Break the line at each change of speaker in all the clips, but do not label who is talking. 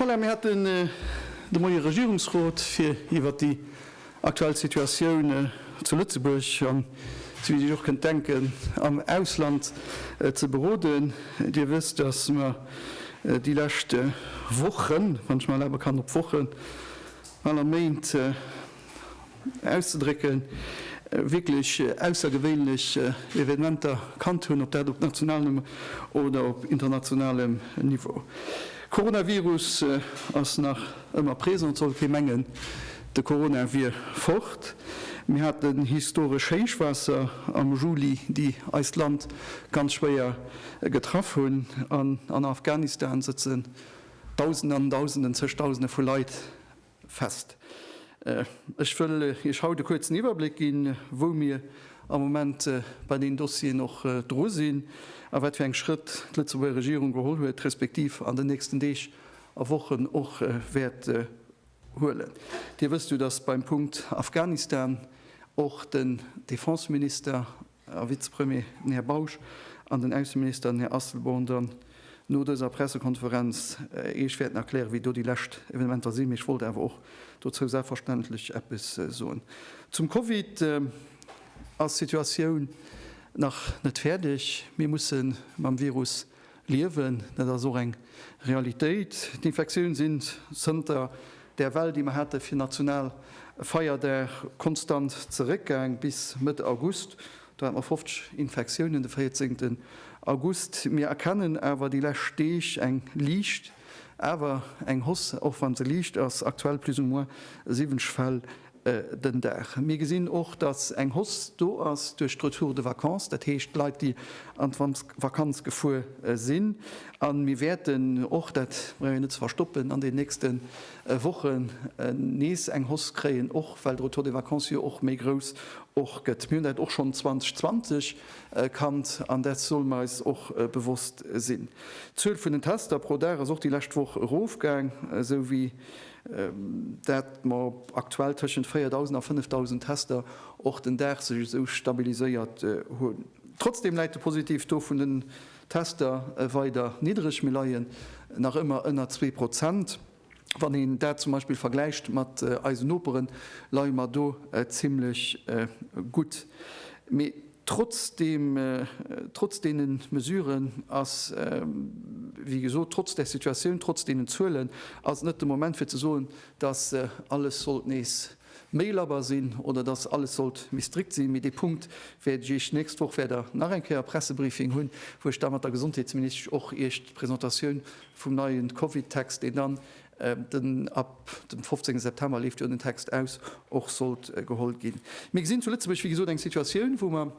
Voilà, mir haten de Moie Regierungsrot, fir iwwert déi Aktuell Situatioun zu Lëtzebuerg an, souwéi Dir Iech och kënnt denken, am Ausland ze beroden. Dir wësst, datt mer déi lescht Wochen, wann ech mech erlabe kann op Wochen, bal a Méint auszedrécken, wierklech aussergewéinlech Evenementer kannt hunn, ob dat op nationalem oder op internationalem Niveau. Coronavirus ass nach ëmmer présent, et soll kee mengen, De Corona wier fort. Mir haten historesch Héichwaasser am Juli, déi eist Land ganz schwéier getraff hunn. An an Afghanistan sëtzen Dausenden an Dausenden, zeg Dausende vu Leit fest. Ech wëll Iech haut e kuerzen Iwwerbléck ginn, wou mir am Moment bei deenen Dossieren och dru sinn a wat fir eng Schrëtt d'Lëtzebuerger Regierung geholl huet, respektiv an den nächsten Deeg a Wochen och wäert huelen. Dir wësst jo, dass beim Punkt Afghanistan och den Defenseminister a Vizepremier, den Här Bausch, an den Ausseminister, den Här Asselborn, dann no dëser Pressekonferenz Iech wäerten erklären, wéi do déi lescht Evenementer sinn. Mee ech wollt awer och dozou selbstverständlech eppes soen. Zum Covid ass d'Situatioun nach net fäerdeg. Mir musse mam Virus Liewen, dat ass och eng Realitéit. D'Infektioun sinn zënter där Well, déi mer hate fir national Feierdag, konstant zeréckgaang. Bis Mëtt August, do hate mer 50 Infektiounen de 14 August. Mir erkennen awer déi lescht Deeg eng liicht, awer eng Hausse, och wann se liicht ass, aktuell plus ou moins 70 Fäll den Dag. Mir gesinn och, dass eng Hausse do ass duerch d'Retour de vacances, dat heescht d'Leit, déi an d'Vakanz gefuer sinn. A mir wäerten och, dat brauch een net ze verstoppen, an den nächste Wochen nees eng Hausse kréien, och well de Retour de vacances jo och méi grouss och gëtt. Mir hunn dat och schonn 2020 kannt an dat solle mer eis och bewosst sinn. D'Zuel vun den Tester pro Dag ass och déi lescht Woch erofgaang, esou wéi dat mer op aktuell tëschent 4.000 a 5.000 Tester och den Dag sech esou stabiliséiert hunn. Trotzdeem läit de Positivtaux vun den Tester weider niddereg, mir leie nach ëmmer ënner zwee Prozent. Wann een dat zum Beispill vergläicht mat eisen Noperen, leie mer do zimlech gutt. Trotz deene Mesuren ass, wéi gesot, trotz där Situatioun, trotz deenen Zuelen ass et net de Moment fir ze soen, datt alles sollt nees méi labber sinn oder datt alles sollt méi strikt sinn. Mee dee Punkt wäert ech Iech d'nächst Woch, wäert Der nach eng Kéier e Pressebriefing hunn, wou ech da mat der Gesondheetsministesch och Iech d'Presentatioun vum neie Covid-Text, deen dann den ab dem 15 September leeft jo den Text aus, och sollt geholl ginn. Mir gesinn zu Lëtzebuerg, wéi gesot, eng Situatioun, wou mer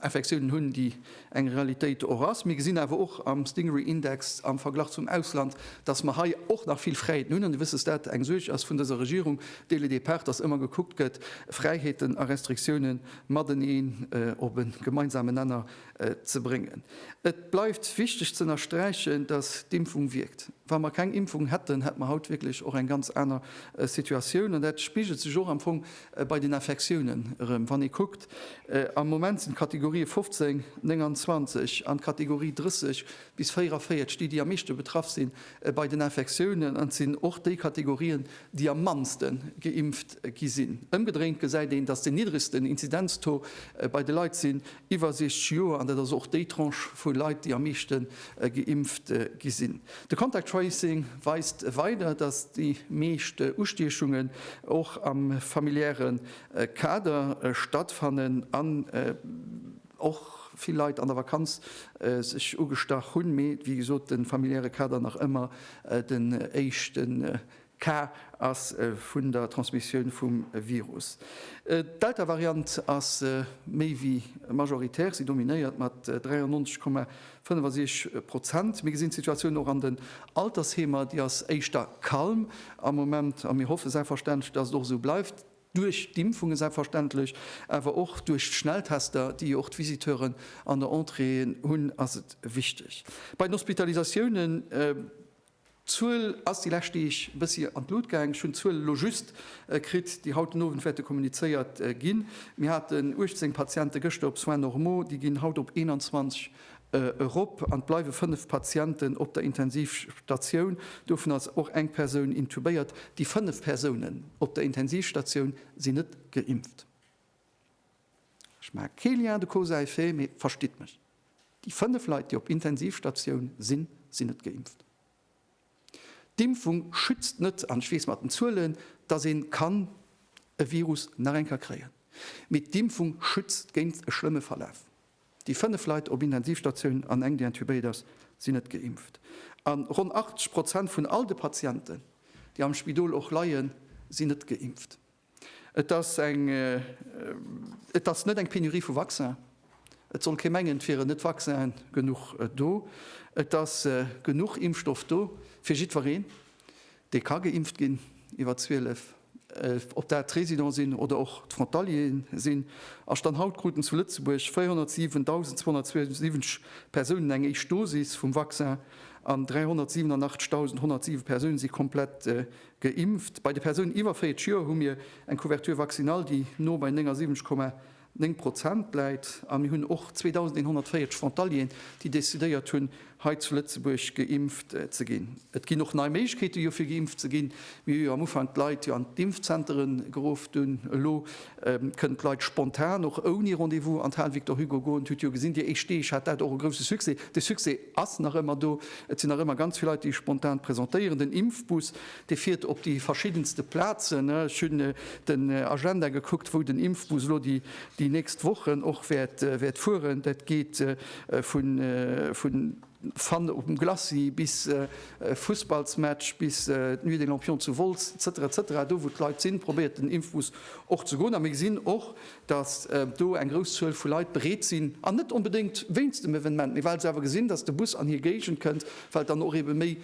Infektiounen hunn, déi eng Realitéit och ass. Mir gesinn awer och am Stingray Index am Verglach zum Ausland, datt mer hei och nach vill Fräiheeten hunn. An Dir wësst, datt dat eng Suerg ass vun dëser Regierung dès le départ, datt ëmmer gekuckt gëtt, Fräiheeten a Restriktiounen mateneen op e gemeinsamen Nenner ze bréngen. Et bleift wichteg ze ënnersträichen, datt d'Impfung wierkt. Wa mer keng Impfung hätten, hätt mer haut wierklech och eng ganz aner Situatioun. An dat spigelt sech och am Fong bei den Infektiounen erëm. Wann ee kuckt, am Moment sinn d'Kategorië 15, 29 an d'Kategorie 30 bis 44 déi, déi am meeschte betraff si bei den Infektiounen. An et sinn och déi Kategorien, déi am mannste geimpft gi sinn. Ëmgedréint gesäit een, datt den niddregsten Inzidenz-Taux bei de Leit sinn, iwwer 60 Joer, an dat ass och déi Tranche vu Leit, déi am meeschte geimpft gi sinn. De Contact Tracing weist weider, datt déi meescht Ustiechungen och am familiäre Kader stattfannen an och vill Leit an der Vakanz sech ugestach hunn. Mee wéi gesot, de familiäre Kader nach ëmmer den éischte Cas ass vun der Transmissioun vum Virus. D'Delta-Variant ass méi wéi majoritär, si dominéiert mat 93,65 Prozent. Mir gesinn d'Situatioun och an den Altersheemer, déi ass éischter calm am Moment a mir hoffe selbstverständlech, datt et och esou bleift, duerch d'Impfungen selbstverständlech, awer och duerch d'Schnelltester, déi och d'Visiteuren an der Entrée hunn, ass et wichteg. Bei den Hospitalisatiounen. D'Zuel ass déi lescht Deeg e bëssi an d'Lut gaang. Ech hunn d'Zuel elo just kritt, déi haut den Owend wäerte kommunizéiert ginn. Mir haten 18 Patiente gëschter op Soins normaux, déi ginn haut op 21 erop an et bleiwe 5 Patienten op der Intensivstatioun. Dovun ass och eng Persoun intubéiert. Déi 5 Persounen op der Intensivstatioun sinn net geimpft. Ech maache kee Lien de cause à effet, mee verstitt mech. Déi 5 Leit, déi op Intensivstatioun sinn, sinn net geimpft. D'Impfung schützt net an ech weess mat den Zuelen, dass een kann e Virus nach eng Kéier kréien, mee d'Impfung schützt géint e schlëmme Verlaf. Déi 5 Leit op Intensivstatioun an eng, déi intubéiert ass, sinn net geimpft. A ronn 80 Prozent vun all de Patienten, déi am Spidol och leien, sinn net geimpft. Et ass eng Et ass net eng Penurie vu Vaccin. Et soll kee mengen, et wieren net Vaccinen genuch do. Et ass genuch Impfstoff do fir jiddwereen, dee ka geimpft ginn iwwer 12, ob dat d'Résidents sinn oder och d'Frontalieren sinn. A Stand haut kruten zu Lëtzebuerg 407.272 Persounen eng éischt Dosis vum Vaccin an 387.107 Persoune si komplett Geimpft. Bei de Persounen iwwer 40 Joer hu mir eng Couverture vaccinale, déi no bei 79,9 Prozent läit. A mir hunn och 2.140 Frontalieren, déi decidéiert hunn, hei zu Lëtzebuerg geimpft ze ginn. Et ginn och nei Méiglechkeete jo fir geimpft ze ginn. Mir hu jo am Ufank d'Leit jo an d'Impfzentere geruff. Dunn elo kënnen d'Leit spontan, och ouni Rendez-vous, an d'Hal Victor Hugo goen. Hutt jo gesinn déi éischt Deeg, hat dat och e grouse Succès. De Succès. Ass nach ëmmer do. Et sinn nach ëmmer ganz vill Leit, déi spontan presentéieren. Den Impfbus, dee fiert op déi verschiddenste Plazen. Ech hunn den Agenda gekuckt, wou den Impfbus elo déi nächst Wochen och wäert fueren. Dat geet vu Fun op dem Glacis bis Fussballsmatch, bis d'Nuit des Lampions zu Wolz, etc. Etc. Do, wou d'Leit sinn, probéiert den Impfbus och ze goen. A mir gesinn och, datt do eng grouss Zuel vu Leit bereet sinn, an net onbedéngt wéinst dem Evenement, mee well se awer gesinn, datt de Bus an hir Géigend kënnt, well et dann och ebe méi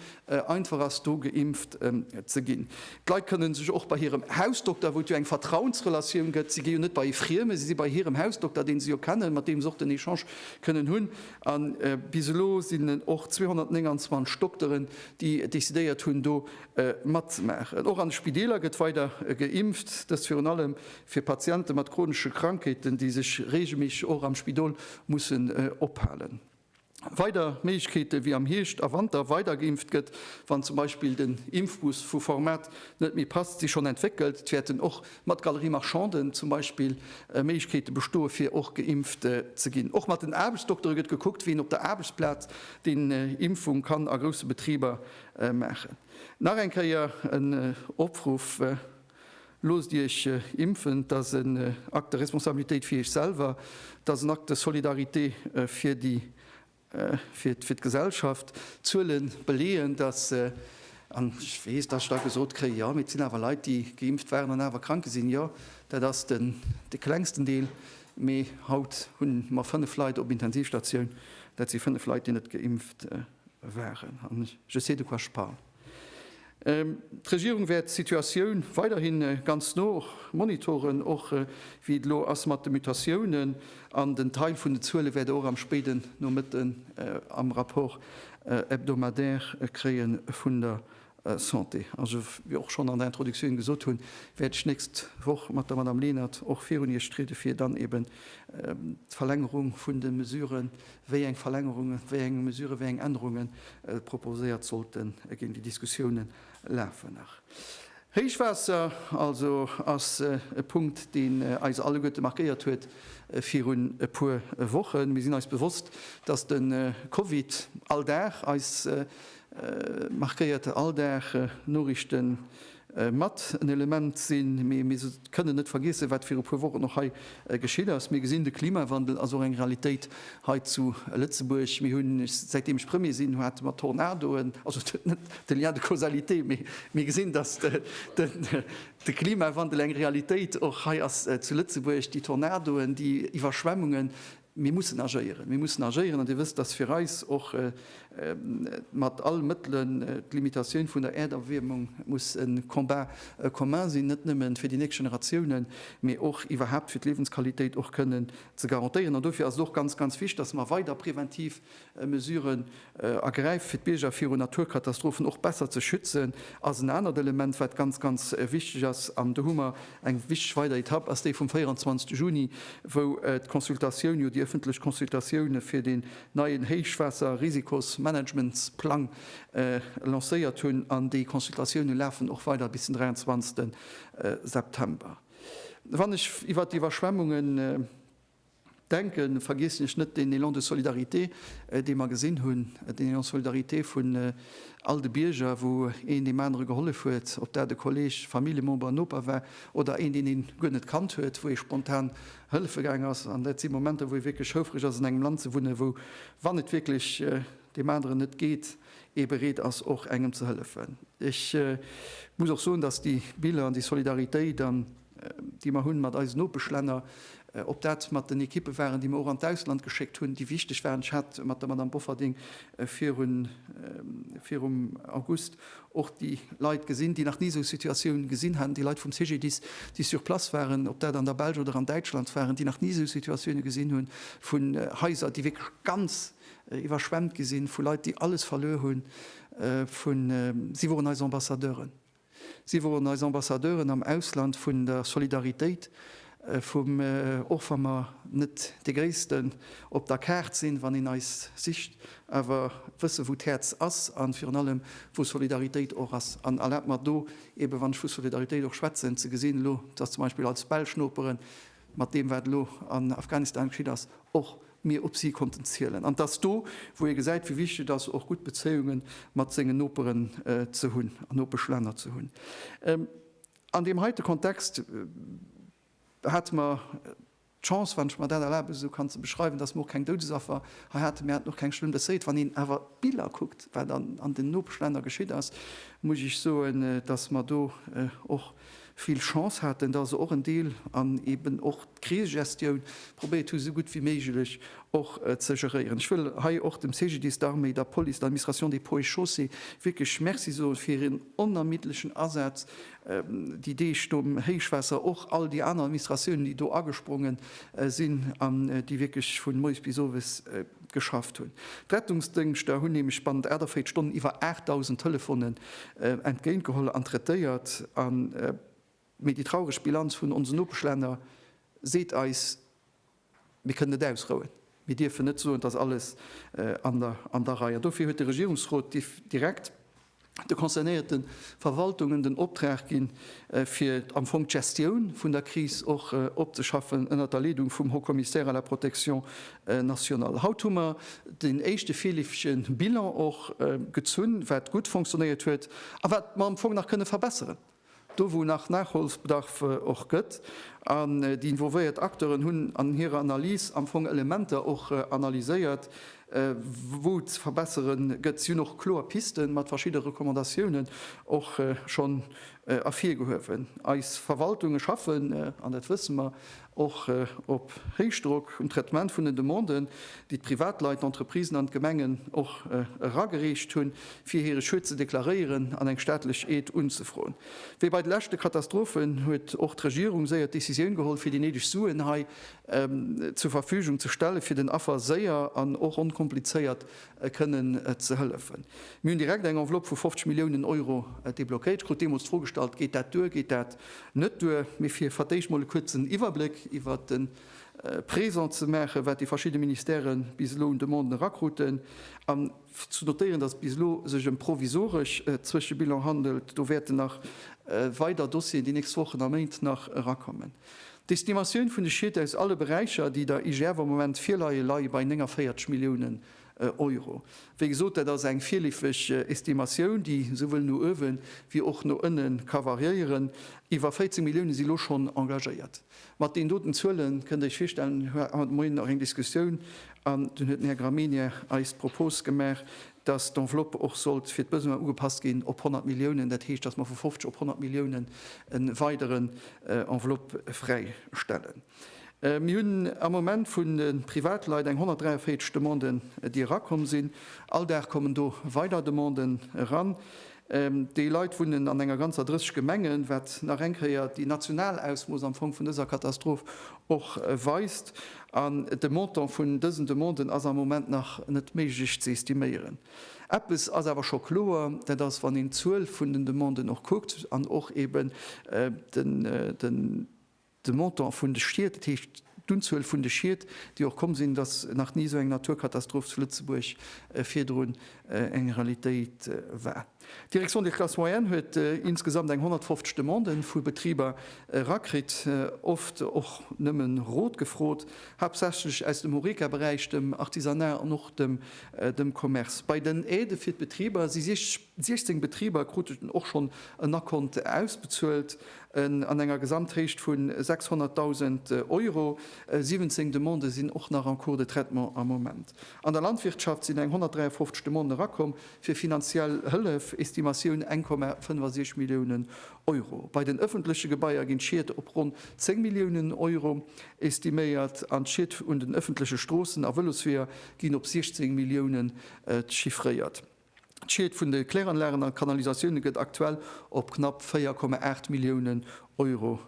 einfach ass, do geimpft ze ginn. D'Leit kënne sech och bei hirem Hausdokter, wou et jo eng Vertrauensrelatioun gëtt, si gi jo net bei ee Frieme, si si bei hirem Hausdokter, dee se jo kennen, mat deem se och den Echange kënnen hunn. A bis elo sinn et och 229 Dokteren, déi decidéiert hunn, do matzemaachen. Och an de Spideeler gëtt weider geimpft, dëst virun allem Fir Patiente mat chronesche Krankheeten, déi sech reegelméisseg och am Spidol mussen ophalen. Weider Méiglechkeete wéi am Hierscht a Wanter weider geimpft gëtt, wann zum Beispill den Impfbus vu Format net méi passt, si schonn entwéckelt. Et wäerten och mat Galeries marchandes zum Beispill Méiglechkeete bestoe fir och geimpft ze ginn. Och mat den Aarbechtsdoktere gëtt gekuckt, wien op der Aarbechtsplaz déi Impfung kann a grousse Betriber maachen. Nach eng Kéier en Opruff. Loosst Iech impfen, dat ass en Acte de responsabilitéit fir Iech selwer, dat ass en Acte de solidarité fir déi, fir d'Gesellschaft. D'Zuele beleeën, dass, an ech weess, dass ech da gesot kréien, jo, mee et sinn awer Leit, déi geimpft waren an awer krank gi sinn. Jo, dat ass de klengsten Deel, mee haut hu mer fënnf Leit op Intensivstatioun, dat si fënnf Leit, déi net geimpft waren. An je sais de quoi je parle. D'Regierung wäert d'Situatioun weiderhi ganz no monitoren, och wéi et elo ass mat de Mutatiounen. An den Teil vun den Zuele wäert Der och am spéiden Nomëtten am Rapport hebdomadaire kréie vun der Santé. A sou wéi och schonn an der Introductioun gesot hunn, wäert ech d'nächst Woch mat der Madame Lenert och virun Iech triede fir dann eeben d'Verlängerung vun de Mesuren wéi eng Verlängerungen, wéi eng Mesuren, wéi eng Ännerungen proposéiert sollten ginn. Déi Diskussiounen lafen nach. Héichwaasser also ass e Punkt, deen eis alleguerte markéiert huet virun e puer Wochen. Mir sinn eis bewosst, dass de Covid all Dag eis markéiert, all Dag Noriichten mat en Element sinn. Mee mir kënnen net vergiessen, wat viru puer Wochen och hei geschitt ass. Mir gesinn, de Klimawandel ass och eng Realitéit hei zu Lëtzebuerg. Mir hunn, säitdeem ech Premier sinn, hate mer Tornadoen, also net de Lien de causalité, mee mir gesinn, datt de Klimawandel eng Realitéit och hei ass zu Lëtzebuerg. Déi Tornadoen, déi Iwwerschwemmungen, Mir mussen agéieren. Mir mussen agéieren an Dir wësst, dass fir eis och mat all Mëttelen d'Limitatioun vun der Äerderwiermung muss e Combat commun sinn, net nëmmen fir déi nächst Generatiounen, mee och iwwerhaapt fir d'Liewensqualitéit och kënnen ze garantéieren. An dofir ass et och ganz, ganz wichtig, dass mer weider präventiv Mesuren ergräift, fir d'Bierger viru Naturkatastrophen och besser ze schützen, ass en anert Element, wat ganz, ganz wichteg ass. An do hu mer eng wichteg weider Etapp, ass déi vum 24 Juni, wou d'Consultatioun, jo déi öffentlech Consultatioun fir deen neien Héichwaasserrisikosmanagementsplang lancéiert hunn. An déi Consultatiounen lafen och weider bis den 23. September. Wann ech iwwert d'Iwwerschwemmungen. Denken, vergiessen ech net deen Élan de solidarité, dee mer gesinn hunn, den Élan de solidarité vun all de Bierger, wou een deem anere gehollef huet, ob dat e Kolleg, e Familljemember, en Noper war oder een, deen ee guer net kannt huet, wou ee spontan hëllefe gaang ass. An dat si Momenter, wou ee wierklech houfreg ass, an engem Land ze wunnen, wou, wann et wierklech deem aneren net geet, ee bereet ass, och engem ze hëllefen. Ech muss och soen, dass déi Biller an déi Solidaritéit an. déi mer hunn mat eisen Nopeschlänner, ob dat mat den Ekippe waren, déi mer och an d'Ausland geschéckt hunn, déi wichteg waren. Ech hat mat der Madame Bofferding virun, virum August och déi Leit gesinn, déi nach ni esou Situatioun gesinn haten, déi Leit vum CGDIS, déi sur place waren, ob dat an der Belsch oder an Däitschland waren, déi nach ni esou Situatioune gesinn hunn, vu Haiser, déi wierklech ganz iwwerschwemmt gi sinn, vu Leit, déi alles verluer hunn, vu, si woren eis Ambassadeuren. Si woren eis Ambassadeuren am Ausland vun der Solidaritéit, vum, och wa mer net dee Gréissten op der Kaart sinn, wann een eis sicht, awer wësse wou d'Häerz ass a virun allem wou Solidaritéit och ass. An erlaabt mer do eebe, wann ech vu Solidaritéit och schwätzen, ze gesinn elo, dass zum Beispill als belsch Noperen, mat deem wat elo an Afghanistan geschitt ass, och mir op si konnten zielen. An et ass do, wou ee gesäit, wéi wichteg et ass, och gutt Bezéiunge mat sengen Noperen ze hunn an Nopeschlänner ze hunn. An deem heite Kontext hate mer d'Chance, wann ech mer dat erlaben esou kann ze beschreiwen, datt mer och keng Doudesaffer hei haten. Mir haten och keng schlëmm Blesséiert. Wann een awer d'Biller kuckt, wat an den Nopeschlänner geschitt ass, muss ech soen, datt mer do och, vill Chance haten, datt se och en Deel an eben och d'Krisegestioun probéiert hu sou gutt wéi méiglech och ze geréieren. Ech wëll hei och dem CGDIS, der Arméi, der Police, der Administration des Ponts et Chaussées wierklech Merci soe fir hiren onermiddlechen Asaz déi Deeg nom Héichwaasser, och all déi aner Administratiounen, déi do agesprongen sinn an déi wierklech vu moies bis owes geschafft hunn. D'Rettungsdëngschter hunn nämlech bannent 48 Stonnen iwwer 8.000 Telefonen entgéint geholl an traitéiert. An mee déi traureg Bilanz vun onsen Nopeschlänner seet eis, mir kënnen net ausrouen. Mir dierfen net soen, et ass alles an der Rei. An dofir huet de Regierungsrot direkt. de concernéierte Verwaltungen den Optrag ginn, fir am Fong d'Gestioun vun der Kris och opzeschaffen, ënnert der Leedung vum Haut-Commissaire à la protection nationale. Haut hu mer deen éischte virleefege Bilan och gezunn, wat gutt fonctionéiert huet a wat mer am Fong nach kënne verbesseren. Do wou nach Nachholsbedarf och gëtt, an déi involvéiert Acteuren hunn an hirer Analys am Fong Elementer och analyséiert, wou ze verbessere gëtt, si hunn och kloer Piste mat verschidde Recommandatiounen och schonn ervirgehuewen. Eis Verwaltunge schaffen, an dat wësse mer, Och op Héichdrock um Traitement vun den Demanden, déi d'Privatleit, d'Entreprisen an d'Gemengen och eragereecht hunn, fir hire Schued ze deklaréieren an eng staatlech Aide unzefroen. Wéi bei de leschte Katastrophen huet och d'Regierung séier d'Decisioun geholl, fir déi néideg Suen hei zur Verfügung ze stellen, fir den Affer séier an och onkomplizéiert kënnen ze hëllefen. Mir hunn direkt eng Enveloppe vu 50 Milliounen Euro deblockéiert. Ech krut deemools d'Fro gestallt, Geet dat duer, geet dat net duer? Mee fir fir d'éischt mol e kuerzen Iwwerbléck iwwert de Présent ze maachen, wat déi verschidde Ministèrë bis elo un Demanden erakruten, an ze notéieren, dass et bis elo sech ëm provisoresch Zwëschebilanë handelt, do wäerten nach weider Dossieren déi nächst Wochen a Méint nach erakommen. D'Estimatioun vun de Schied aus alle Beräicher, déi der IGF am Moment virleie, leie bei 49 Milliounen Euro. Wéi gesot, dat ass eng virleefeg Estimatioun, déi souwuel no uewe wéi och no ënne ka variéieren. Iwwer 14 Milliounen si lo schonn engagéiert. Mat deenen doten Zuele kënnt Dir Iech virstellen, mir haten haut de Moien nach eng Diskussioun an dunn huet den Här Gramegna eis d'Propos gemaach, dass d'Enveloppe och sollt fir d'Besoinen ugepasst ginn op 100 Milliounen, dat heescht, dass mer vu 50 op 100 Milliounen e weideren Enveloppe fräistellen. Mir hunn am Moment vun de Privatleit eng 143 Demanden, déi erakomm sinn. All Dag kommen do weider Demanden eran. Déi Leit wunnen an enger ganzer 30 Gemengen, wat nach eng Kéier déi national Ausmooss am Fong vun dëser Katastroph och weist. An de Montant vun dësen Demanden ass am Moment nach net méiglech ze estiméieren. Eppes ass awer scho kloer, dat ass, wann een d'Zuel vun den Demanden och kuckt an och eeben den, De Montant vun de Schied, dat heescht d'Unzuel vun de Schied, déi och komm sinn, et ass nach ni esou eng Naturkatastroph zu Lëtzebuerg virdrun eng Realitéit war. D'Direction des classes moyennes huet insgesamt eng 150 Demandë vu Betriber erakritt, oft och nëmmen Rot gefrot, haaptsächlech aus dem Horeca-Beräich, dem Artisanat an och dem Commerce. Bei den Aidë fir d'Betriber si 60. 16 Betriber kruten och schonn en Acompte ausbezuelt an enger Gesamthéicht vu 600.000 Euro. 17 Demandë sinn och nach en cours de traitement am Moment. An der Landwirtschaft sinn eng 153 Demanden erakomm fir finanziell Hëllef, Estimatioun 1,65 Milliounen Euro. Bei den ëffentleche Gebaier ginn d'Schied op ronn 10 Milliounen Euro estiméiert an d'Schied un den ëffentleche Stroossen a Vëlosweeër ginn op 16 Milliounen chiffréiert. D'Schied vun de Kläranlagen a Kanalisatioune gëtt aktuell op knapp 4,8 Milliounen Euro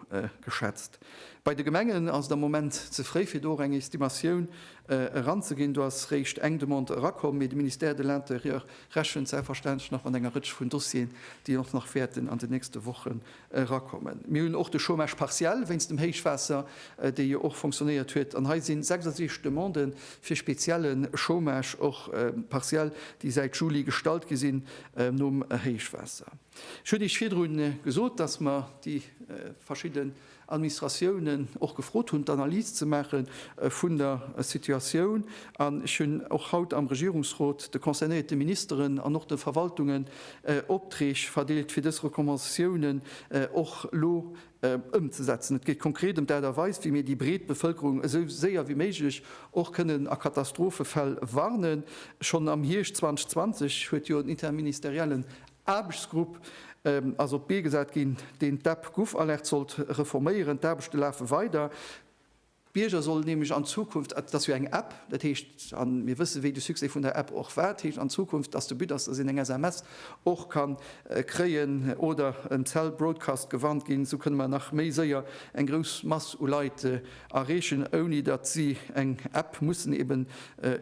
geschätzt. Bei de Gemengen ass et am Moment ze fréi fir do och eng Estimatioun eranzeginn. Do ass réischt eng Demande erakomm, mee de Ministère de l'Intérieur rechent selbstverständlech nach mat enger Rëtsch vun Dossieren, déi och nach wäerten an de nächste Woche erakommen. Mir hunn och de Chômage partiel wéinst dem Héichwaasser, dee jo och fonctionnéiert huet. An hei si 66 Demandë fir spezielle Chômage, och partiell, déi säit Juli gestallt gi sinn nom Héichwaasser. Ech hunn Iech virdru gesot, dass mer déi verschidde Administratiounen och gefrot hunn, d'Analys ze maache vun der Situatioun. An ech hunn och haut am Regierungsrot de concernéierte Ministeren an och de Verwaltungen Optreeg verdeelt fir dës Recommandatiounen och elo ëmzesetzen. Et geet konkret ëm d'Aart a Weis, wéi mir déi breet Bevëlkerung esou séier wéi méiglech och kënnen a Katastrophefäll warnen. Schonn am Hierscht 2020 huet jo en interministeriellen Aarbechtsgrupp ass op d'Bee gesat ginn, deen d'App GouvAlert sollt reforméieren. D'Aarbechte lafe weider. D'Bierger sollen nämlech an Zukunft, et ass jo eng App, dat heescht, a mir wëssen, wéi de Succès vun der App och war, dat heescht an Zukunft, dass de But ass, dass een eng SMS och ka kréien oder en Cell Broadcast gewarnt ginn, esou kënne mer nach méi séier eng grouss Mass u Leit erreechen, ouni datt si eng App mussen eben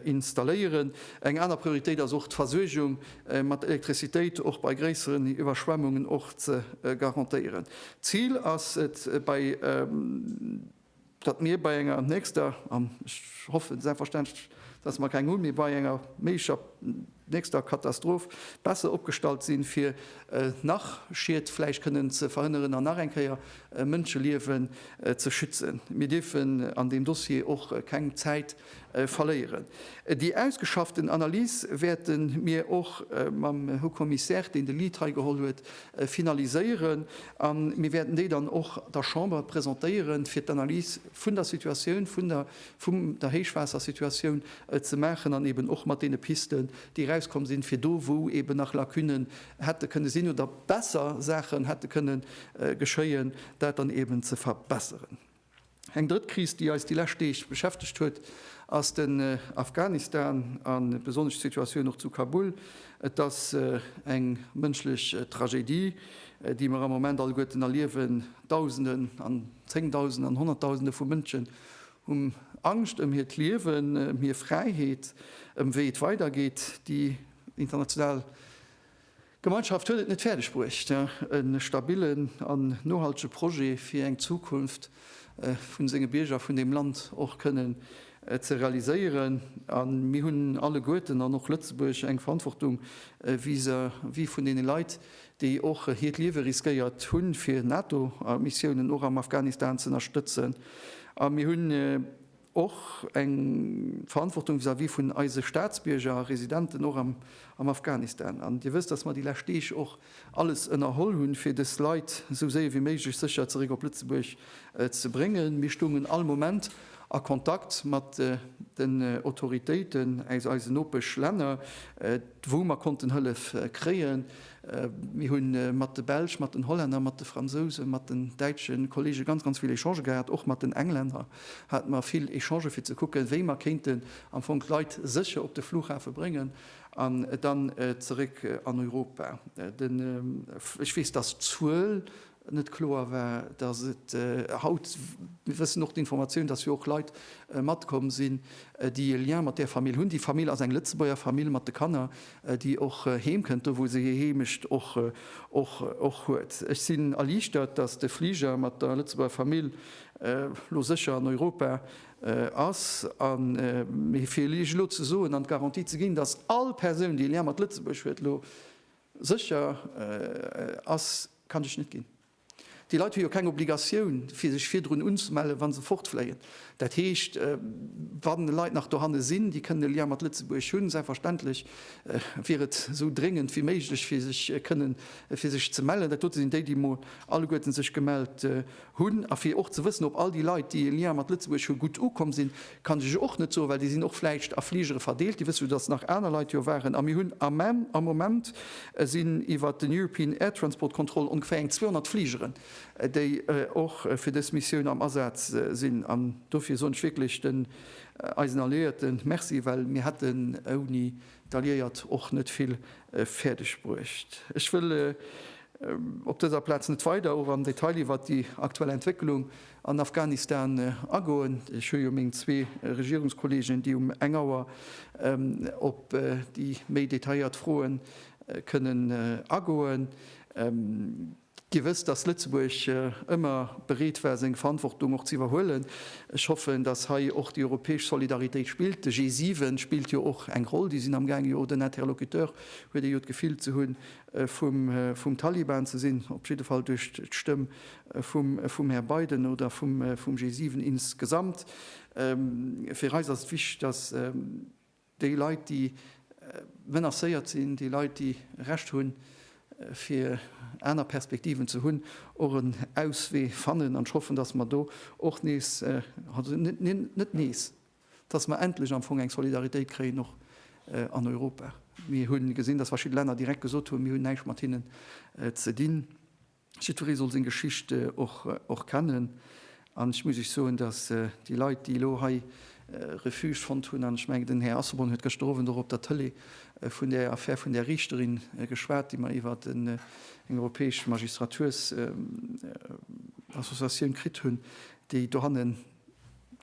installéieren. Eng aner Prioritéit ass och d'Versuergung mat Elektrizitéit och bei gréisseren Iwwerschwemmungen och ze garantéieren. D'Zil ass et bei. datt mir bei enger nächster, an ech hoffen selbstverständlech, datt mer keng hunn, mee bei enger méiglecher nächster Katastroph besser opgestallt sinn, fir nach Schied vläicht kënnen ze verhënneren an nach eng Kéier Mënscheliewen ze schützen. Mir dierfen an deem Dossier och keng Zäit verléieren. Déi ausgeschafften Analys wäerte mir och mam Haut Commissaire, deen de Lead hei geholl huet, finaliséieren a mir wäerten déi dann och der Chamber presentéieren, fir d'Analys vun der Situatioun, vun der, vum der Héichwaassersituatioun ze maachen an eeben och mat deene Pisten, déi erauskomm sinn, fir do, wou eeben nach Lacunen hätte kënne sinn oder besser Saachen hätte kënne geschéien, dat dann eeben ze verbessern. Eng drëtt Kris, déi eis déi lescht Deeg beschäftegt huet, ass den Afghanistan a besonnesch d'Situatioun och zu Kabul. Et ass eng mënschlech Tragedie, déi mer am Moment alleguerten erliewen. Dausenden an Zéngdausenden an Honnertdausende vu Mënschen hu Angscht ëm hiert Liewen, ëm hir Fräiheet, ëm wéi et weidergeet. Déi international D'Gemeinschaft huet et net fäerdeg bruecht, e stabillen an nohaltege Projet fir eng Zukunft vu senge Bierger vun deem Land och kënnen ze realiséieren. A mir hunn alleguerten, an och Lëtzebuerg, eng Verantwortung vis-à-vis vun deene Leit, déi och hiert Liewe riskéiert hunn, fir NATO-Missiounen och am Afghanistan z'ënnerstëtzen. A mir hunn. Och eng Verantwortung vis-à-vis vun eise Staatsbierger a Residenten, och am Afghanistan. An Dir wësst, dass mer déi lescht Deeg och alles ënnerholl hunn, fir dës Leit esou séier wéi méiglech sécher zeréck op Lëtzebuerg ze bréngen. Mir stoungen all Moment a Kontakt mat den Autoritéiten aus eisen Nopeschlänner, wou mer konnten Hëllef kréien. Mir hu mat de Belsch, mat den Hollänner, mat de Fransousen, mat den däitsche Kollege ganz, ganz vill Echangë gehat, och mat den Englänner. hate mer vill Echangen, fir ze kucken, wéi mer kéinten am Fong d'Leit sécher op de Flughafe bréngen an dann zeréck an Europa. Ech weess, dass d'Zuel net kloer war, dass et haut, mir wëssen och d'Informatioun, dass jo och Leit matkomm sinn, déi e Lien mat där Famill hunn. Déi Famill ass eng Lëtzebuerger Famill mat de Kanner, déi och heem kënnt, do wou se hir Heemecht och huet. Ech sinn erliichtert, dass de Fliger mat der Lëtzebuerger Famill elo sécher an Europa ass, a mir fir Iech elo ze soen an d'Garantie ze ginn, datt all Persoun, déi e Lien mat Lëtzebuerg huet, elo sécher ass, kann ech net ginn. Déi Leit hu jo keng Obligatioun, fir sech virdrun unzemellen, wa se fortfléien. Dat heescht, wa Leit nach dohanne sinn, déi kënnen e Lien mat Lëtzebuerg hunn, selbstverständlech wier et esou dréngend wéi méiglech, fir sech kënnen fir sech ze mellen. Dat dote sinn déi, déi emol alleguerten sech gemellt Hunn, a fir och ze wëssen, ob all déi Leit, déi e Lien mat Lëtzebuerg hu gutt ukomm sinn, kann ech iech och net soen, well déi sinn och vläicht a Fligere verdeelt. Dir wësst jo, datt nach aner Leit jo waren. A mir hunn am Moment sinn iwwert den European Air Transport Control ongeféier eng 200 Fligeren, déi och fir dës Missioun am Asaz sinn. An dofir soen ech wierklech den eisen Alliéierten Merci, well mir hätten ouni. D'Alliéiert och net vill fäerdeg bruecht. Ech wëll op dëser Plaz net weider och am Detail iwwert déi aktuell Entwécklung an Afghanistan agoen. Ech hu jo meng zwee Regierungskollegen, déi um eng Auer op déi méi detailléiert Froe kënnen agoen. Dir wësst, dass Lëtzebuerg ëmmer bereet war, seng Verantwortung och ze iwwerhuelen. Ech hoffen, dass hei och déi europäesch Solidaritéit spillt. De G7 spillt jo och eng Roll. Déi sinn am gaange jo den Interlocuteur, huet ee jo d'Gefill ze hunn, vum Taliban ze sinn, op jidde Fall duerch d'Stëmm vum Här Biden oder vum G7 insgesamt. Fir eis ass et wichteg, dass. Déi Leit, déi menacéiert sinn, déi Leit, déi Recht hunn, fir aner Perspektiven ze hunn, och en Auswee fannen. An ech hoffen, dass mer do och nees, net nees, dass mer endlech am Fong eng Solidaritéit kréien, och an Europa. Mir hu gesinn, dass verschidde Länner direkt gesot hunn, Mir hunn näischt mat hinnen ze dinn. Jiddweree soll seng Geschicht och kennen. An ech muss lech soen, datt déi Leit, déi elo hei Refuge fonnt hunn, an ech mengen, den Här Asselborn huet gëschter Owend och op der Tëlee vun där Affär vun där Riichterin geschwat, déi mer iwwer eng europäesch Magistratursassoziatioun kritt hunn, déi dohannen,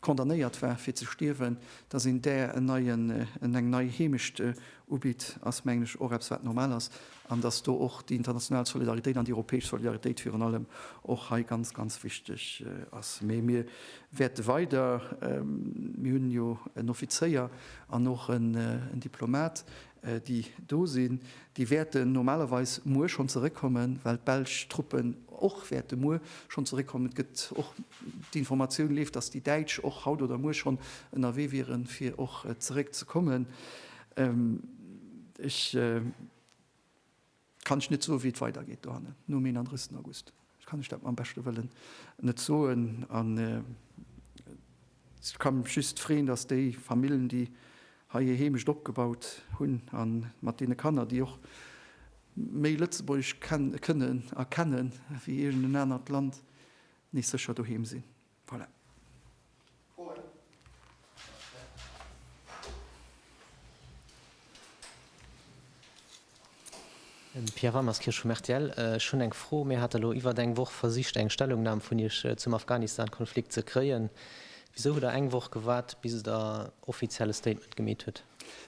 condamnéiert war fir ze stierwen, dass een där en neien, en eng nei Heemecht ubitt, ass mengen ech och eppes wat normal ass, an dass do och déi international Solidaritéit an déi europäesch Solidaritéit virun allem och hei ganz, ganz wichteg ass. Mee mir wäerte weider, mir hunn jo en Offizéier an och en Diplomat, déi do sinn, déi wäerten normalerweis muer schonn zeréckkommen, well d'belsch Truppen och wäerte muer schonn zeréckkommen. Et gëtt och, d'Informatioun leeft, datt déi Däitsch och haut oder muer schonn ënnerwee wieren, fir och zeréck ze kommen. Ech. Kann ech net soen wéi et weidergeet dohannen nom 31 August. Ech kann ech dat mam beschte Wëllen net soen an ech ka mech just freeën, datt déi Famillen déi hei hir Heemecht opgebaut hunn a mat deene Kanner déi och méi Lëtzebuergesch kënnen a kennen wéi iergend en anert Land, nees sécher doheem sinn. Voilà. Froen? Pierre Ramerskirsch vum rtl, Ech hunn eng Fro, Mir hate lo iwwert eng Woch versicht eng Stellungnam vun Iech zum Afghanistan-Konflikt ze kréien. Wisou hutt Der eng Woch gewaart bis Der offiziell e Statement gemeet hutt?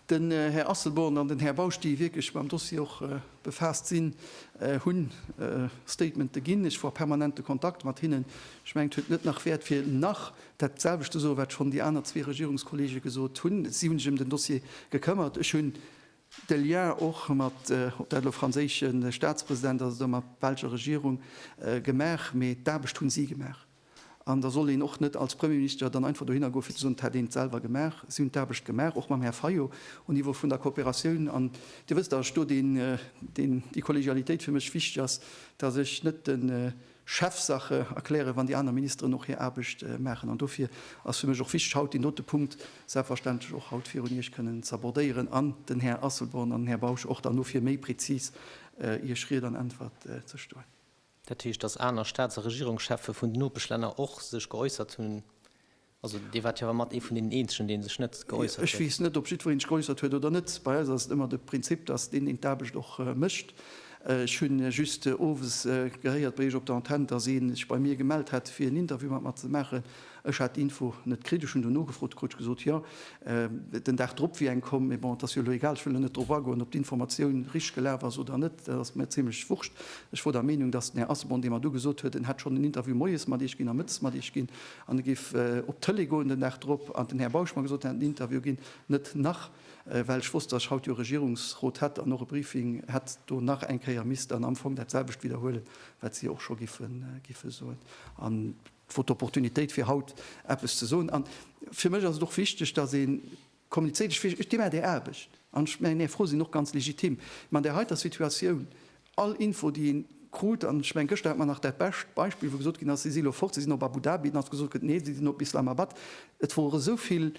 Den Här Asselborn an den Här Bausch, déi wierklech mam Dossier och befaasst sinn, hunn Statementen ginn. Ech war permanent de Kontakt mat hinnen. Ech mengen, et huet net nach Wäert fir nach dat selwecht ze soen, wat schonn déi aner zwee Regierungskolleege gesot hunn. Si hunn sech ëm den Dossier gekëmmert. Ech hunn de Lien och mat, ob dat elo franséische Staatspresident ass oder mat belscher Regierung gemaach, mee d'Aarbecht hunn si gemaach. An da soll een och net als Premierminister dann einfach dohinner goen, fir ze soen, et hätt een et selwer gemaach. Si hunn d'Aarbecht gemaach, och mam Här Fayot um Niveau vun der Kooperatioun. An Dir wësst, datt ech do deen, deen déi Kollegialitéit fir mech wichteg ass, datt ech net de Chef Saache erklären, wann déi aner Ministeren och hir Aarbecht maachen. An dofir ass fir mech och wichteg, haut deen dote Punkt selbstverständlech och haut virun Iech kënnen z'abordéieren an den Här Asselborn an den Här Bausch och dann dofir méi prezis Iech Ried an Äntwert ze stoen. Dat heescht, dass aner Staats a Regierungscheffe vun den Nopeschlänner och sech geäussert hunn. Also Dir waart jo awer mat ee vun deenen eenzegen, dee sech net geäussert huet. Ech weess net, ob jiddweree sech geäussert huet oder net. Bei eis ass et ëmmer de Prinzip, dass deen deen d'Aarbecht och mécht. Ech hu just owes gehéiert bei Iech op der Antenn, dass ee sech bei mir gemellt hätt, fir en Interview mat mer ze maachen. Ech hat d'Info net kritt. Ech hunn do nogefrot, et krut gesot, jo, den Dag drop wier eng komm. Mee bon, et ass jo elo egal, ech wëll elo net drop agoen, ob d'Informatioun richteg gelaf ass oder net, dat ass mir zimlech wurscht. Ech wor der Meenung, datt den Här Asselborn, dee mer do gesot huet, en hätt schonn en Interview moies mat Iech ginn a mëttes mat Iech ginn an e géif op d'Tëlee goen den Dag drop an den Här Bausch mer gesot, en hätt en Interview ginn, net nach, well ech wosst, datt ech haut jo e Regierungsrot hätt an och e Briefing hätt, do nach eng Kéier misst dann am Fong dat selwecht widderhuelen, wat si och scho giffen soen. Et wor d'Opportunitéit fir haut eppes ze soen. An fir mech ass et och wichteg, datt ee kommunizéiert. Ech weess, ech deem Är Där Aarbecht an ech mengen Är Fro sinn och ganz legitim. Mee an där heiter Situatioun, all Info déi ee krut, an ech mengen gëschter hat mer nach dat bescht Beispill, wou gesot ginn ass, si si elo fort, si sinn op Abu Dhabi, dann ass gesot gëtt, nee, si sinn op Islamabad. Et wor esou vill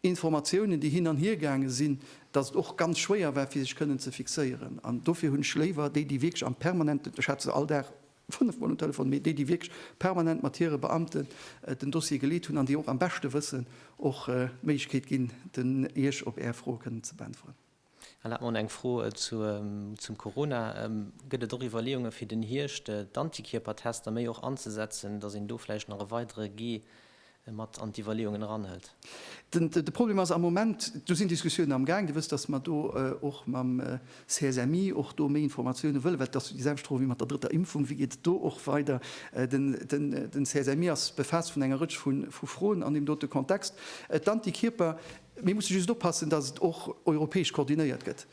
Informatiounen déi hin an hier gaange sinn, datt et och ganz schwéier war fir sech kënnen ze fixéieren. An dofir hunn ech léiwer déi déi wierklech am permanenten, ech hat se all Dag Fënnef Mol um Telefon, mee déi, déi wierklech permanent mat hire Beamte den Dossier geleet hunn an déi och am beschte wëssen, och d'Méiglechkeet ginn, Iech op Är Froe kënnen ze beäntweren. Erlaabt mer, eng Fro zum Corona. Gëtt et och Iwwerleeunge fir den Hierscht d'Antikierpertester méi och anzesetzen, datt een do vläicht nach e weidere Gee mat an d'Iwwerleeungen eranhëlt. De Problem ass am Moment, do sinn Diskussiounen amgaang, Dir wësst, datt mer do och mam CSMI och do méi Informatiounen wëllen, well et ass déi selwecht Fro wéi mat der drëtter Impfung, Wéi geet et do och weider? Den CSMI ass befaasst vun enger Rëtsch vu Froen an deem dote Kontext. D'Antikierper, mir musse just oppassen, datt et och europäesch koordinéiert gëtt.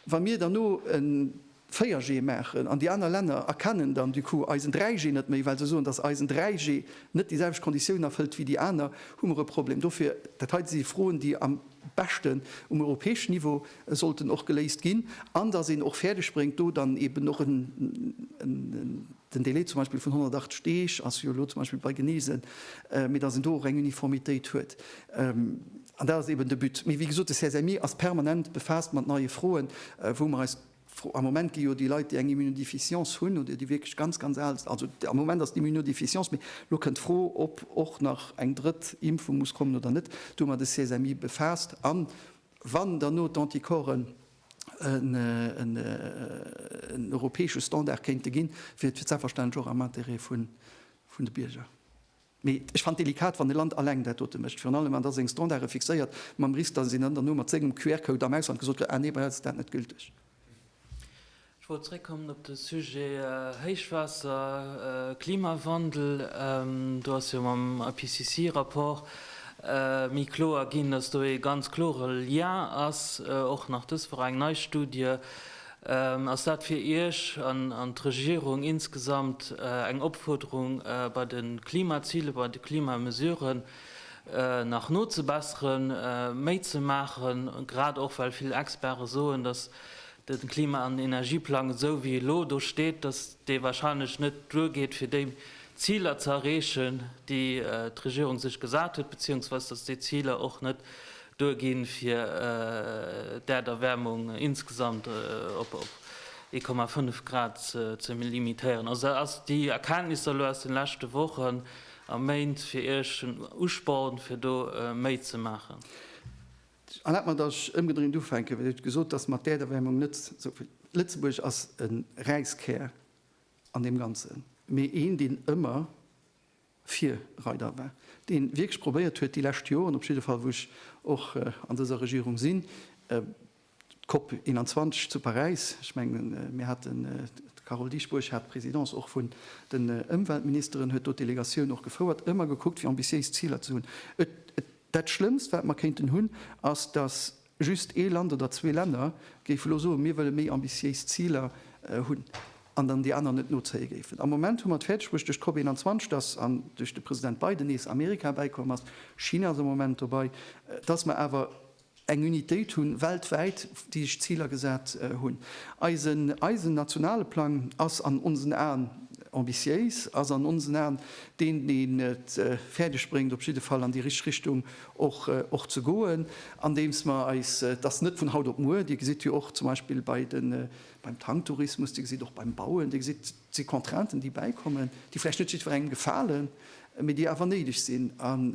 Wa mir dann no en. 4G maachen an déi aner Länner erkennen dann du coup eisen 3G net méi, well se soen, dass eisen 3G net déi selwecht Konditiounen erfëllt wéi déi aner, hu mer e Problem. Dofir, dat heiten si Froen, déi am beschten um europäeschen Niveau sollten och geléist ginn an dass een och fäerdegbréngt, do dann eeben och en, Den Delai zum Beispill vun 180 Deeg ass jo elo zum Beispill bei Genesen, mee datt een do och eng Uniformitéit huet. An dat ass eeben de But. Mee wéi gesot, de CSMI ass permanent befaasst mat neie Froen, wou mer eis, am Moment gi jo déi Leit, déi eng Immunodéficience hunn oder déi wierklech ganz, ganz al sinn, also am Moment ass d'Immunodéficience, mee elo kënnt d'Fro, ob och nach eng drëtt Impfung muss kommen oder net, do hu mer de CSMI befaasst. An wann derno d'Anticorpsen en europäesche Standard kéinte ginn, wier et selbstverständlech och am Interêt vun de Bierger. Mee ech fannen et delikat, wann e Land alleng dat dote mécht, virun allem wann da seng Standarde fixéiert, mam Risk, datt een dann duerno mat sengem QR-Code am Ausland gesot kritt, Ah nee, bei eis ass dat net gülteg. Ech wollt zréckkommen op de Sujet Héichwaasser, Klimawandel. Do ass jo mam IPCC-Rapport méi kloer ginn, datt do ee ganz klore Lien ass, och nach dës Woch eng nei Studie. Ass dat fir Iech an d'Regierung insgesamt eng Opfuerderung, bei de Klimazilen, bei de Klimamesuren nach nozebesseren, méi ze maachen, grad och well vill Experte soen, datt de Klima an Energieplang esou wéi e elo do steet, datt dee wahrscheinlech net duergeet fir déi Ziler ze erreechen, déi d'Regierung sech gesat huet, beziehungsweise datt déi Ziler och net duerginn, fir d'Äerderwärmung insgesamt op 1,5 Grad ze limitéieren. Also ass déi Erkenntnis elo aus de leschte Wochen a Méint fir Iech en Usporn, fir do méi ze maachen? An dat mer dach ëmgedréint ufänken, well et gesot ass, mat d'Äerderwärmung net esou vill. Lëtzebuerg ass e Räiskär an deem Ganzen, mee een, deen ëmmer Virreider war, deen wierklech probéiert huet, déi lescht Joren op jidde Fall, wou ech och an dëser Regierung sinn, d'Cop 21 zu Paräis, ech mengen, mir haten, d'Carole Dieschbourg hat d'Présidence och vun den Ëmweltministeren, huet do d'Delegatioun och gefouert, ëmmer gekuckt, fir ambitiéis Ziler ze hunn. Dat Schlëmmst, wat mer kéinten hunn, ass, datt just ee Land oder zwee Länner géife lo soen, mir wëlle méi ambitiéis Ziler hunn, an dann déi aner net nozéie géifen. Am Moment hu mer et fäerdeg bruecht, duerch d'COP 21, datt, an duerch de President Biden, nees Amerika bäikomm ass, China ass am Moment dobei, datt mer awer, eng Unitéit hu weltwäit, déi sech Ziler gesat hunn. Eisen, eisen nationale Plang ass an onsen Aen ambitiéis, ass an onsen Aen deen, deen et fäerdeg bréngt, op jidde Fall an déi richteg Richtung och, och ze goen, andeems mer eis, et ass net vun haut op muer, Dir gesitt jo och zum Beispill bei de, beim Tanktourismus, Dir gesitt och beim Bauen, Dir gesitt, Et si Contrainten, déi bäikommen, déi vläicht net jiddwerengem gefalen, mee déi awer néideg sinn, an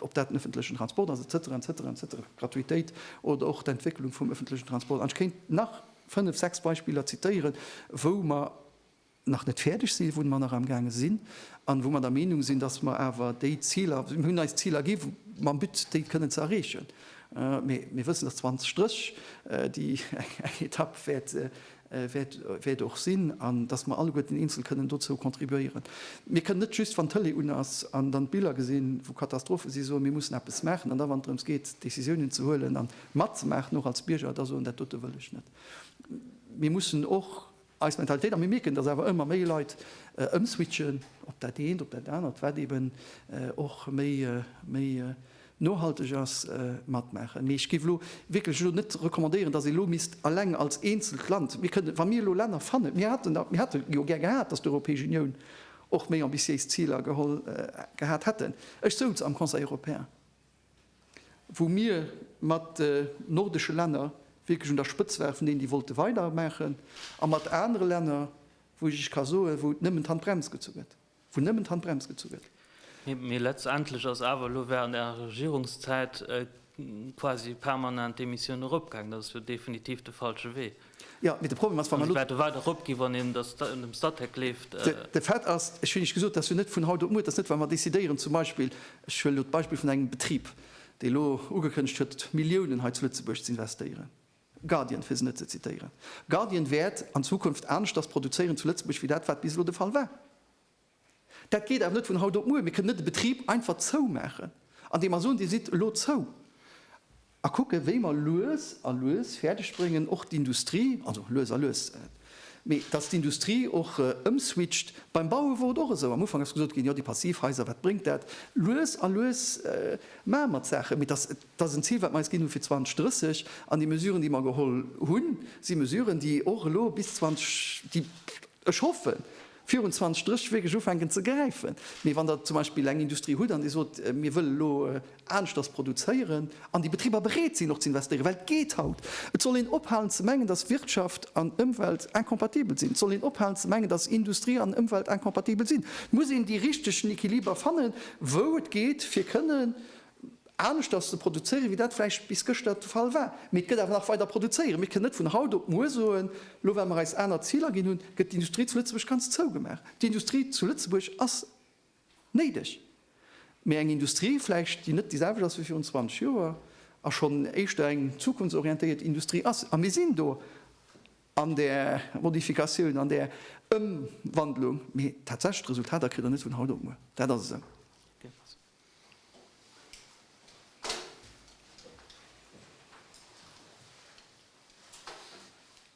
ob dat den ëffentlechen Transport ass, et cetera, et cetera, et cetera, d'Gratuitéit oder och d'Entwécklung vum ëffentlechen Transport. An ech kéint nach fënnef, sechs Beispiller zitieren, wou mer nach net fäerdeg sinn, wou mer nach amgaange sinn an wou mer der Meenung sinn, dass mer awer déi Ziler, mir hunn eis Ziler gi mam But, déi kënnen ze erreechen, mee mir wëssen, dass 2030 déi eng Etapp wäert wäert och sinn, an dass mer alleguerten eenzel kënnen dozou contribuéieren. Mir kënnen net just, wann d'Tëlee un ass an dann d'Biller gesinn, wou Katastrophe sinn, soen, mir mussen eppes maachen, an da wann et drëms geet Décisiounen ze huelen a matzemaachen och als Bierger, da soen, dat dote wëll ech net. Mir mussen och eis Mentalitéit, a mir mierken, dass awer ëmmer méi Leit ëmswitchen op dat eent, op dat anert, wat eeben och méi Nohalteg ass matmaachen. Mee ech géif elo wierklech elo net recommandéieren, datt ee elo misst eleng als eenzelt Land, mir kënnen, wa mir elo Länner fannen, mir haten der, mir hätte jo gär gehat, datt d'Europäesch Unioun och méi ambitiéis Ziler geholl gehat hätten. Ech souz am Conseil européen, wou mir mat nordesche Länner wierklech un der Spëtz waren, vun deenen, déi wollte weidermaachen, a mat anere Länner, wou ech Iech ka soen, wou et nëmmen d'Handbrems gezu gëtt. Wou nëmmen d'Handbrems gezu gëtt. Mee letztendlech ass awer elo während Ärer Regierungszäit quasi permanent d'Emissioun eropgaangen. Dat ass jo definitiv de falsche Wee. Jo, mee de Problem ass, wa mer elo. A se wäerte weider eropginn, wann een dat dem Statec leeft. De Fait ass, ech hunn Iech gesot, dat ass jo net vun haut op muer. Dat ass net, wa mer decidéieren, zum Beispill, ech huelen elo d'Beispill vun engem Betrib, dee elo ugekënnegt huet, Milliounen hei zu Lëtzebuerg z'investéieren. Guardian, fir se net ze zitéieren. Guardian wäert an Zukunft aneschters produzéieren zu Lëtzebuerg wéi dat, wat bis elo de Fall war. Dat geet awer net vun haut op muer. Mir kënnen net e Betrib einfach zoumaachen, andeem mer soen, Dir sidd elo zou, a kucken, wéi mer lues a lues fäerdeg bréngen, och d'Industrie, also lues a lues, mee datt d'Industrie och ëmswitcht. Beim Baue wor et och esou. Am Ufank ass gesot ginn, Jo, déi Passivhaiser, wat bréngt dat? Lues a lues maache mer d'Saachen, mee datt et Dat ass en Zil, wat mer eis ginn hu fir 2030. An déi Mesuren, déi mer geholl hunn, si Mesuren, déi och elo bis 20, déi, ech hoffen, virun 2030 wierklech ufänken ze gräifen. Mee wann Der zum Beispill eng Industrie hutt an Dir sot, mir wëllen elo aneschters produzéieren, an déi Betriber bereet sinn och ze investéieren, well et geet haut, et soll een ophalen ze mengen, dass Wirtschaft an Ëmwelt incompatibel sinn, et soll een ophalen ze mengen, dass Industrie an Ëmwelt incompatibel sinn, muss een déi richtegen Equiliber fannen, wou et geet, fir kënnen aneschters ze produzéieren, wéi dat vläicht bis gëschter de Fall war. Mee et gëtt awer nach weider produzéieren. Mir kënnen net vun haut op muer soen, elo well mer eis aner Ziler ginn hunn, gëtt d'Industrie zu Lëtzebuerg ganz zougemaach. D'Industrie zu Lëtzebuerg ass néideg. Mee eng Industrie vläicht, déi net déi selwecht ass wéi virun 20 Joer a schonn éischter eng zukunftsorientéiert Industrie ass. A mir sinn do an där Modifikatioun, an där Ëmwandlung. Mee tatsächlech d'Resultater kritt Der net vun haut op muer. Dat ass esou.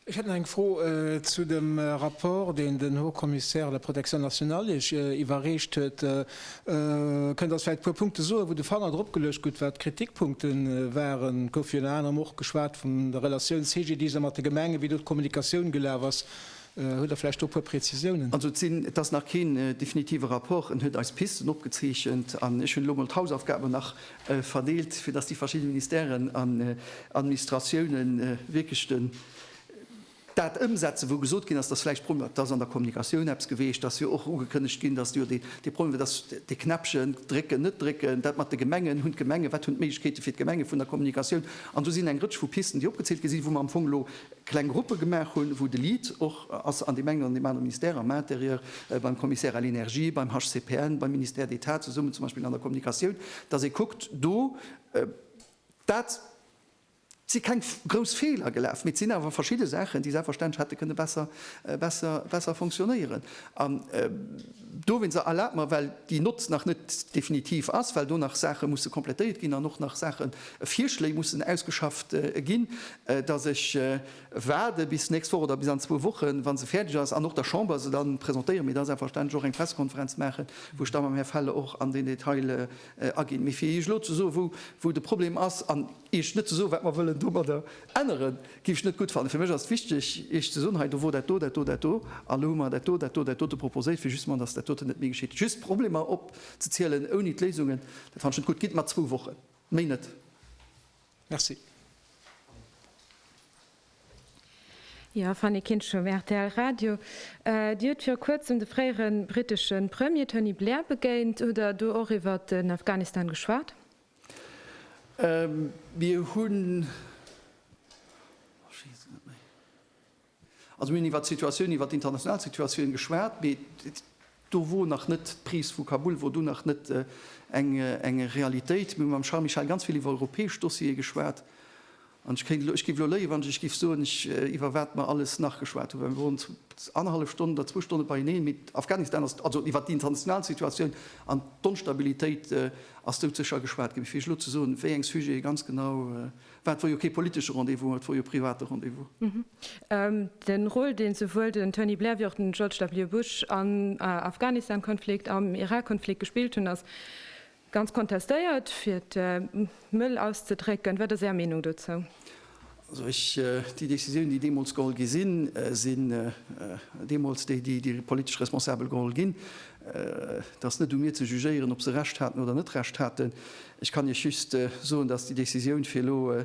Ech hätt nach eng Fro zu dem Rapport, deen den Haut Commissaire à la protection nationale Iech iwwerreecht huet. Kënnt Der eis vläicht e puer Punkte soen, wou de Fanger drop geluecht gutt, wat d'Kritikpunkte waren? Et gouf virun anerem och geschwat vun der Relatioun CGDIS a mat de Gemengen, wéi do d'Kommunikatioun gelaf ass. Hutt Der vläicht do e puer Prezisiounen? Also et sinn, et ass nach keen definitive Rapport. En huet eis Pisten opgezeechent an ech hunn elo mol d'Hausaufgaben nach verdeelt, fir dass déi verschidde Ministèren an Administratioune wierklech den, dat ëmsetzen, wou gesot ginn ass, dass vläicht Problemer, et ass an der Kommunikatioun eppes geweecht, dass jo och ugekënnegt ginn, dass jo dee Problem wär, dass dee Knäppchen drécken, net drécken, dat mat de Gemengen, hunn d'Gemenge, wat hunn d'Méiglechkeete fir d'Gemenge vun der Kommunikatioun? An do sinn eng Rëtsch vu Pisten, déi opgezielt gi sinn, wou mer am Fong elo kleng Gruppe gemaach hunn, wou de Lead och ass an deem engen oder deem anere Ministère, am Intérieur, beim Commissaire à l'Energie, beim HCPN, beim Ministère d'État, zesummen zum Beispill an der Kommunikatioun, dass ee kuckt do. Dat si keng grouss Feeler gelaf, mee et sinn awer verschidde Saachen, déi selbstverständlech hätte kënne besser, besser, besser funktionéieren. An do, Winzer, erlaabt mer, well déi Nott nach net definitiv ass, well do nach Saache musse komplettéiert ginn an och nach Saachen, Virschléi mussen ausgeschafft ginn, dass ech waarde bis d'nächst Woch oder bis an zwou Wochen, wa se fäerdeg ass an och der Chamber se da presentéiere mir da selbstverständlech och eng Pressekonferenz maachen, wou ech da mam Här Felle och an den Detail aginn. Mee fir Iech elo ze soe wou de Problem ass an Iech net ze soen, wat mer wëllen domadder änneren, géif ech net gutt fannen. Fir mech ass et wichteg, Iech ze soen, hei do wor dat do, dat do, dat do, a elo hu mer dat do, dat do, dat dote proposéiert, fir justement dass dat doten net méi geschitt. Just d'Problemer opzezielen ouni d'Léisungen, dat fannen ech net gutt. Gitt mer zwou Wochen, méi net. Merci. Jo, Fanny Kinschum, rtl Radio. Dir hutt viru kuerzem de fréiere brittesche Premier Tony Blair begéint. Hutt Der do och iwwert den Afghanistan geschwat? Mir hunn. Also mir hunn iwwert d'Situatioun, iwwert d'international Situatioun geschwat, mee do wor nach net d'Prise vu Kabul wor do nach net eng Realitéit. Mir hu mam Charles Michel ganz vill iwwer europäesch Dossiere geschwat. An ech kéint elo, ech géif elo léien, wann ech giff soen, iwwer wat mer alles nach geschwat hunn, well mir woren annerhallef Stonn oder zwou Stonne beieneen. Mee Afghanistan ass, also iwwert d'international Situatioun an d'Onstabilitéit ass doudsécher geschwat ginn. Mee fir Iech elo ze soen, wéi eng Sujete ganz genau, Wat wor jo kee politesche Rendez-vous, et wor jo e private Rendez-vous. De Rôle, dee souwuel den Tony Blair wéi och den George W. Bush am Afghanistan-Konflikt, am Irak-Konflikt gespillt hunn, ass ganz kontestéiert, fir et mëll auszedrécken. Wat ass Är Meenung dozou? Also ech, déi Décisiounen, déi deemools geholl gi sinn, sinn deemools déi, déi déi politesch Responsabel geholl ginn. Et ass net u mir ze jugéieren, ob se Recht haten oder net Recht haten. Ech kann Iech just soen, dass déi Décisioun, fir elo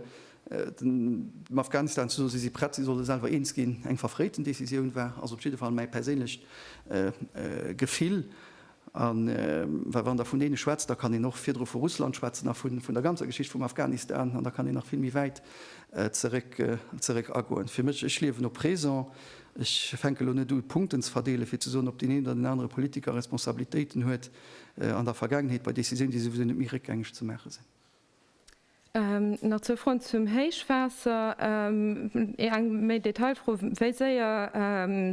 dem Afghanistan ze soen, si si prett, si solle selwer eens ginn, eng verfréiten Décisioun war. Ass op jidde Fall mäi perséinlecht Gefill. A well wann Der vun deene schwätzt, da kann een och virdru vu Russland schwätzen a vun der ganzer Geschicht vum Afghanistan. An da kann een nach vill méi wäit zeréck agoen. Fir mech, ech liewen au présent. Ech fänke elo net u Punkten ze verdeelen, fir ze soen, ob deen een oder deen anere Politiker Responsabilitéiten huet. an der Vergaangenheet bei Décisiounen, déi souwisou net méi réckgängeg ze maache sinn. Nach zwou Froen zum Héichwaasser. Eng méi Detailfro, Wéi séier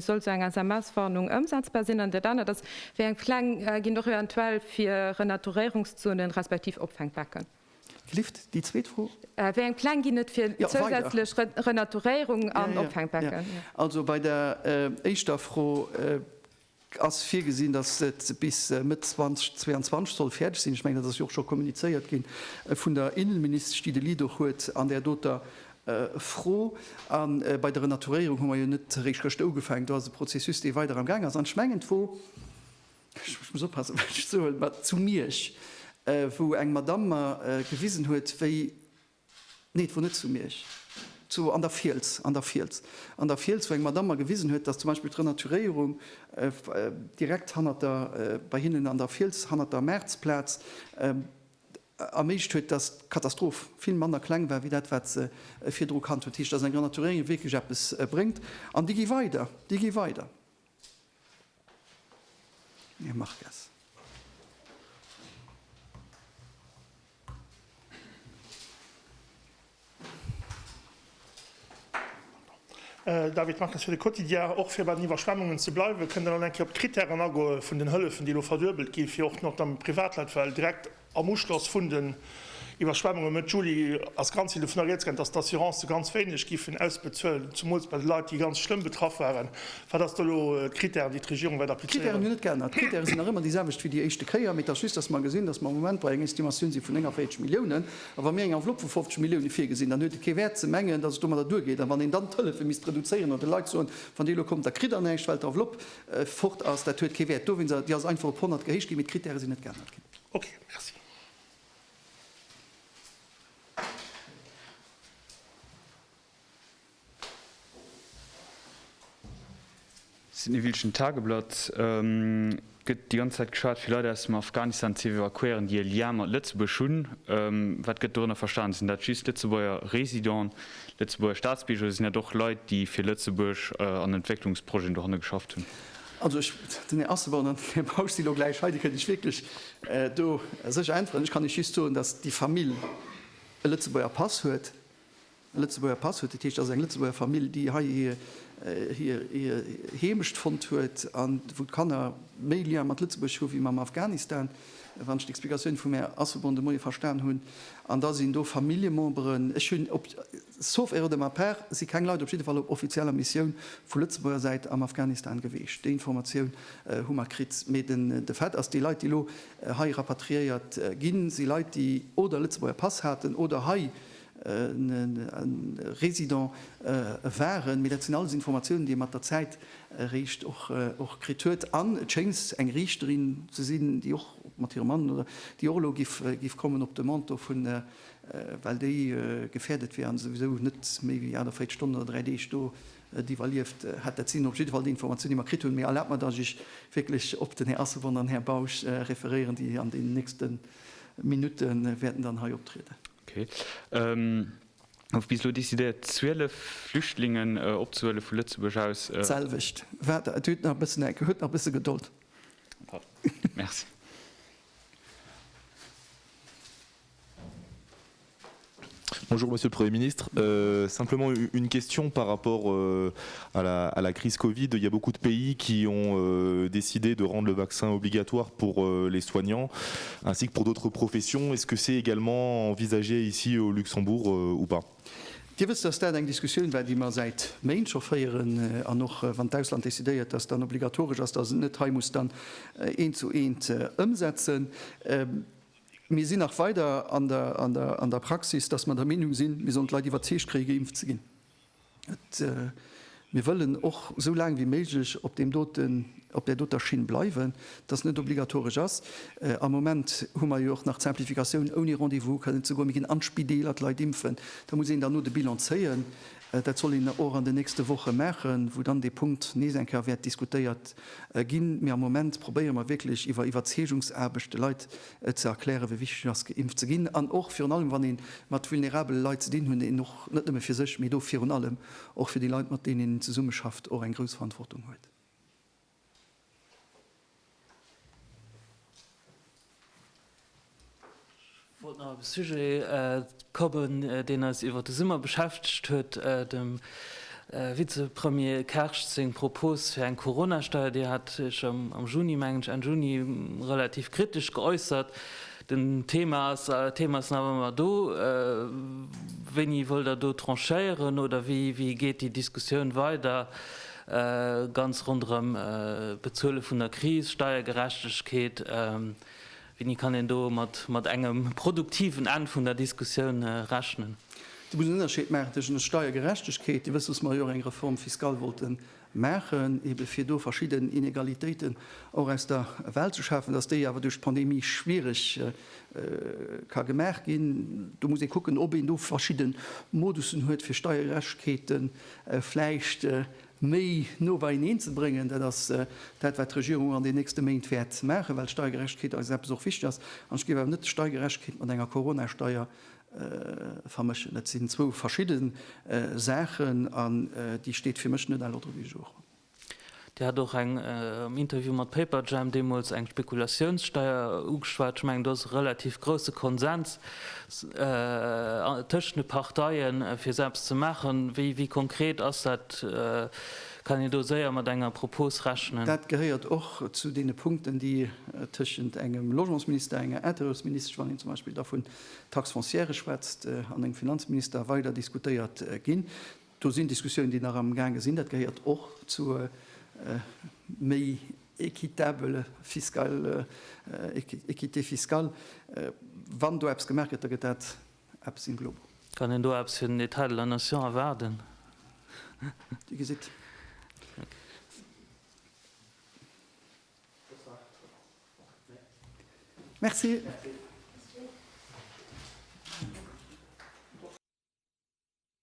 soll esou eng SMS-Warnung ëmsetzbar sinn? An dat anert ass, Wéi eng Pläng ginn et och eventuell fir Renaturéierungszonen, respektiv Opfänkbecken? Klift, déi zweet Fro? Wéi eng Pläng ginn et fir zousätzlech Renaturéierungen an Opfänkbecken? Also bei der éischter Fro. Et ass virgesinn, datt et bis Mëtt 2022 soll fäerdeg sinn. Ech mengen, dat ass jo och scho kommunizéiert gi vun der Innenministesch, déi de Lead och huet an där doter Fro. A bei der Renaturéierung hu mer jo net eréischt gëschter ugefaangen. Do ass e Prozessus, dee weider am Gaang ass. An ech mengen d'Wo, ech muss oppassen, wat ech soen, zu Miersch, wou eng Madamm mer gewisen huet, wéi Nee, et wor net zu Miersch. Zu, an der Fiels, an der Fiels, an der Fiels, wou eng Madamm mer gewisen huet, dass zum Beispill d'Renaturéierung direkt hannert der, bei hinnen an der Fiels, hannert der Mäertz-Plaz, erméiglecht huet, dass d'Katastroph vill manner kleng war wéi dat, wat se virdru kannt huet. Dat heescht, dass eng Renaturéierung wierklech eppes bréngt. An déi gi weider, déi gi weider. David Marques fir de Quotidien. Och fir bei den Iwwerschwemmungen ze bleiwen, kënnt elo nach eng Kéier op d'Krittären agoe vun den Hëllefen, déi elo verduebelt ginn, fir och notamment Privatleit, well direkt Am Uschloss vun den Iwwerschwemmunge Mëtt Juli ass ganz vill dovun erieds gaangen, datt d'Assurancë ganz wéineg géifen ausbezuelen, zemools bei de Leit, déi ganz schlëmm betraff waren. Wat ass do elo d'Krittären, déi d'Regierung wäert applizéieren? D'Krittären hunn net geännert. D'Krittäre sinn nach ëmmer déi selwecht wéi déi éischte Kéier, mee et ass just, datt mer gesinn, datt mer am Moment bei enger Estimatioun si vun 49 Milliounen. A wa mir eng Enveloppe vu 50 Millioune virgesinn, dann huet et kee Wäert ze mengen, datt et domadder duergeet. A wann een dann d'Hëllefe misst reduzéieren oder de Leit soen, wann Dir elo kommt, da kritt Der näischt, well d'Enveloppe fort ass, dat huet kee Wäert. Dowéinst, déi ass einfach op 100 gehéich ginn, mee d'Krittäre sinn net geännert ginn. Ok, merci. Sinn e Wieldchen Tageblatt. Et gëtt déi ganz Zäit geschwat fir Leit aus dem Afghanistan ze evakuéieren, déi e Lien mat Lëtzebuerg hunn. Wat gëtt dorënner verstan? Sinn dat just Lëtzebuerger Residenten, Lëtzebuerger Staatsbierger oder sinn dat och Leit, déi fir Lëtzebuerg an Entwécklungsprojeten dohanne geschafft hunn? Also ech, den Här Asselborn an den Här Bausch si lo gläich hei, déi kënnen Iech wierklech do sécher äntweren. Ech kann Iech just soen, datt déi Famill e Lëtzebuerger Pass huet, e Lëtzebuerger Pass huet, dat heescht, dat ass eng Lëtzebuerger Famill, déi hei hir Heemecht fonnt huet an wou d'Kanner méi Lien mat Lëtzebuerg hu wéi mam Afghanistan, wann ech d'Explikatioun vum Här Asselborn de Moie verstan hunn. An da sinn do Familljememberen, ech hunn op. Sauf erreur de ma part, si keng Leit, op jidde Fall op offizieller Missioun vu Lëtzebuerger Säit am Afghanistan geweecht. Déi Informatioun hu mer kritt. Mee de Fait ass, déi Leit, déi elo hei rapatriéiert ginn, si Leit, déi oder Lëtzebuerger Pass haten oder hei résident waren. Mee dat sinn alles Informatiounen, déi ee mat der Zäit eréischt och kritt huet. An et schéngs eng Riichterin ze sinn, déi och mat hirem Mann, oder déi och elo giff kommen op d'Demande do vun well déi gefährdet wier an souwisou net méi wéi 48 Stonnen oder 3 Deeg do et iwwerlieft hätt. Dat sinn op jidde Fall déi Informatiounen, déi mer kritt hunn. Mee erlaabt mer, dass ech wierklech op den Här Asselborn an Här Bausch referéieren, déi an deenen nächste Minutte wäerten dann hei optrieden. Okay. Et gouf bis elo decidéiert, 12 Flüchtlingen opzehuelen, vu Lëtzebuerg aus. D'selwecht. Waart et huet nach e bëssen, Enke, huet nach e bësse Gedold. Merci. Bonjour, Monsieur le Premier ministre. Euh, simplement une question par rapport euh, à, la, à la crise Covid. Il y a beaucoup de pays qui ont euh, décidé de rendre le vaccin obligatoire pour euh, les soignants, ainsi que pour d'autres professions. Est-ce que c'est également envisagé ici au Luxembourg euh, ou pas Dir wësst, dass dat eng Diskussioun war, déi mer säit Méint scho féieren, an och wann d'Ausland decidéiert, dass dann obligatoresch ass, dass et net hei muss dann eent zu eent ëmsetzen. Mir sinn nach weider an der Praxis, dass mer der Meenung sinn, mir sollen d'Leit iwwerzeegt kréie geimpft ze ginn. Mir wëllen och esou laang wéi méiglech op deem doten, op där doter Schinn bleiwen, dass net obligatoresch ass. Am Moment hu mer jo och nach d'Simplificatioun, ouni Rendez-vous kënnen ze goen. Mir ginn an d'Spideeler d'Leit impfen. Da muss een dann elo de Bilan zéien. Dat soll een och an den nächste Woche maachen, wou dann dee Punkt nees eng Kéier wäert diskutéiert ginn. Mee am Moment probéiere mer wierklech iwwer Iwwerzeegungsaarbecht de Leit ze erklären, wéi wichteg et ass, geimpft ze ginn. An och virun allem, wann ee mat vulnerabele Leit ze dinn huet, een och net nëmme fir sech, mee do virun allem och fir déi Leit, mat deenen een zesummeschafft, och eng grouss Verantwortung huet. Ech wollt nach op e Sujet kommen, deen eis iwwer de Summer beschäftegt huet, dem Vizepremier Kersch seng Propos fir eng Coronasteier. Dir hat Iech am Juni, mengen ech, Enn Juni, relativ kritesch geäussert. Den Thema ass, d'Thema ass nach ëmmer do. Wéini wëllt Der do tranchéieren oder wéi geet déi Diskussioun weider? Ganz ronderëm d'Bezuele vun der Kris, Steiergerechtegkeet, wéini kann een do mat engem produktiven Enn vun der Diskussioun rechnen? Dir musst en Ënnerscheed maachen tëschent der Steiergerechtegkeet, Dir wësst, datt mer jo och eng Réforme fiscale wollte maachen, ebe fir do verschidden Inégalitéiten och aus der Welt ze schafen, datt déi awer duerch d'Pandemie schwierig ka gemaach ginn. Do muss ee kucken, ob een do verschidde Modussen huet, fir Steiergerechtegkeet vläicht méi no beieneen ze bréngen. Dat ass dat, wat d'Regierung an den nächste Méint wäert maachen, well Steiergerechtegkeet eis eppes och wichteg ass. An ech géif awer net Steiergerechtegkeet mat enger Coronasteier vermëschen. Dat sinn zwou verschidde Saachen an déi steet fir mech net à l'ordre du jour. Dir hat och eng am Interview mat Paperjam deemools eng Spekulatiounssteier ugeschwat. Ech mengen do ass e relativ grousse Konsens tëschent de Parteien, fir esou eppes ze maachen. Wéi konkret ass dat? Kann een do séier mat enger Propos rechnen? Dat gehéiert och zu deene Punkten, déi tëschent engem Logementsminister, enger Intérieursministesch, wann een zum Beispill da vun Taxe foncière schwätzt, an engem Finanzminister weider diskutéiert ginn. Do sinn Diskussiounen, déi nach am gaange sinn. Dat gehéiert och zu méi équitabele fiscale, équité fiscale. Wann do eppes gemaach gëtt, da gëtt dat eppes in globo. Kann een do eppes fir den État de la nation erwaarden? Dir gesitt. Merci.